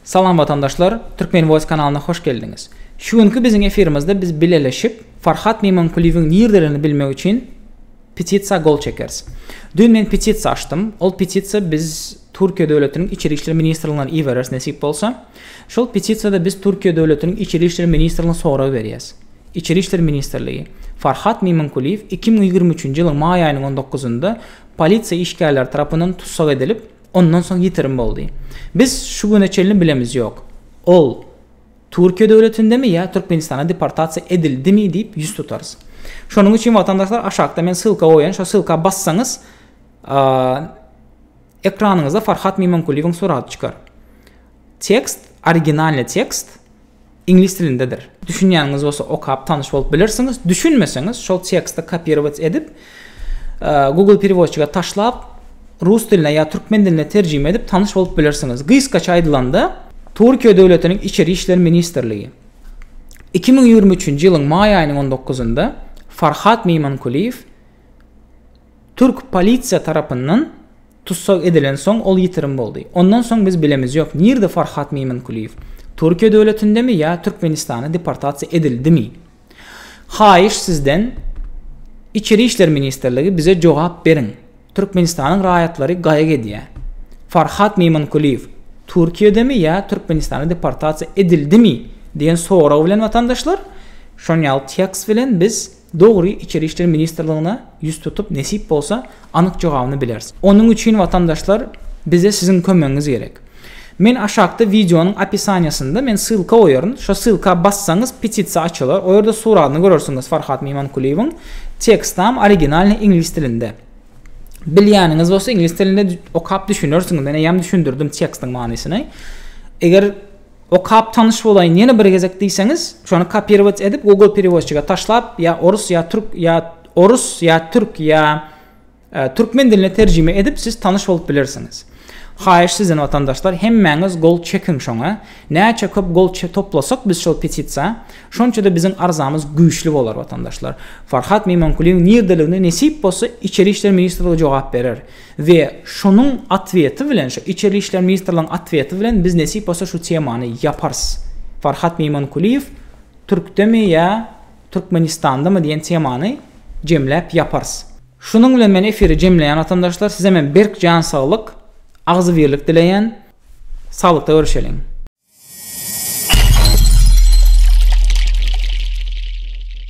Salam watandaşlar, Türkmen Voice kanalyna hoş geldiňiz. Şu günki biziň efirimizde biz bileleşip Farhat Memankuliýewiň nirdeligini bilmek üçin petisiýa gol çekeris. Dün men petisiýa açdym. Ol petisiýa biz Türkiýe döwletiniň Içeri işler ministrligine ibereris nesip bolsa. Şol petisiýada biz Türkiýe döwletiniň Içeri işler ministrligine sorag berýäs. Içeri işler ministrligi, Farhat Memankuliýew iki müň ýigrimi üçünji ýylyň maý aýynyň on dokuzynda polisiýa işgärleri tarapyndan tussag edilip, Ondan soň ýitirim boldy. Biz şu güne çenli bilemiz ýok. Ol Türkiýe döwletindemi ýa Türkmenistana deportasiýa edildimi diýip ýüz tutarys. Şonuň üçin watandaşlar aşakda men ssylka goýan şo ssylka bassaňyz ekranyňyza Farhat Mimankuliýewiň suraty çykar. Tekst, originalny tekst. iňlis dilindedir. Düşünýäniňiz bolsa okap tanyş bolup bilersiňiz, düşünmeseňiz şol teksti kopirować edip Google perewodçige taşlap rus diline ýa türkmen diline terjime edip tanyş bolup bilersiňiz. Gysgaça aýdylanda, Türkiýe döwletiniň Içeri işler ministrligi iki müň ýigrimi üçünji ýylyň maý aýynyň on dokuzynda Farhat Meimankuliýew Türk polisiýa tarapyndan tussag edilen soň ol ýitirim boldy. Ondan soň biz bilemiz ýok nirde Farhat Meýmenkulyýew. Türkiýe döwletindemi ýa Türkmenistana deportasiýa edildimi? Haýyş sizden Içeri işler ministrligi bize jogap beriň. Türkmenistanyň raýatlary gaýyk edýär. Farhat Meýmenkulyýew Türkiýedemi ýa Türkmenistana deportasiýa edildimi diýen sorag bilen watandaşlar şonýaly tekst bilen biz Dogry, Içeri işler ministrligine ýüz tutup, nesip bolsa, anyk jogabyny bileris. Onuň üçin, watandaşlar, bize siziň kömegiňiz gerek. Men aşakda wideonyň opisaniýasynda men ssylka goýaryn, şo ssylka bassaňyz petisiýa açylar, o ýerde suradyny görersiňiz Farhat Meýmankulyýewiň, tekstam originalnyý iňlis dilinde. Bilýäniňiz bolsa iňlis dilinde okap düşünersiňiz, men eýýäm düşündirdim tekstiň manysyny. Eger Okap tanyş bolaýyn ýene bir gezek diýseňiz şony kopirowat edip google perewoçige taşlap ýa orus ýa türk ýa orus ýa türk ýa türkmen diline terjime edip siz tanyş bolup bilersiňiz. Haýyş sizden watandaşlar hemmäňiz gol çekiň şoňa näçe köp gol toplasak biz şol petisiýa şonçada biziň arzamyz güýçli bolar watandaşlar. Farhat Memankulyň nirdeligini nesip bolsa içeri işler ministrligi jogap berer. We şonuň otweti bilen, şu Içeri işler ministrligiň otweti bilen biz nesip bolsa şu temany ýaparys. Farhat Meýmankulyýew Türkdemi ýa Türkmenistandamy diýen temany jemläp ýaparys. Şunuň bilen men efiri jemleýän watandaşlar sizem hem berk jan saglyk, agzybirlik dileýän. Saglykda görüşeliň.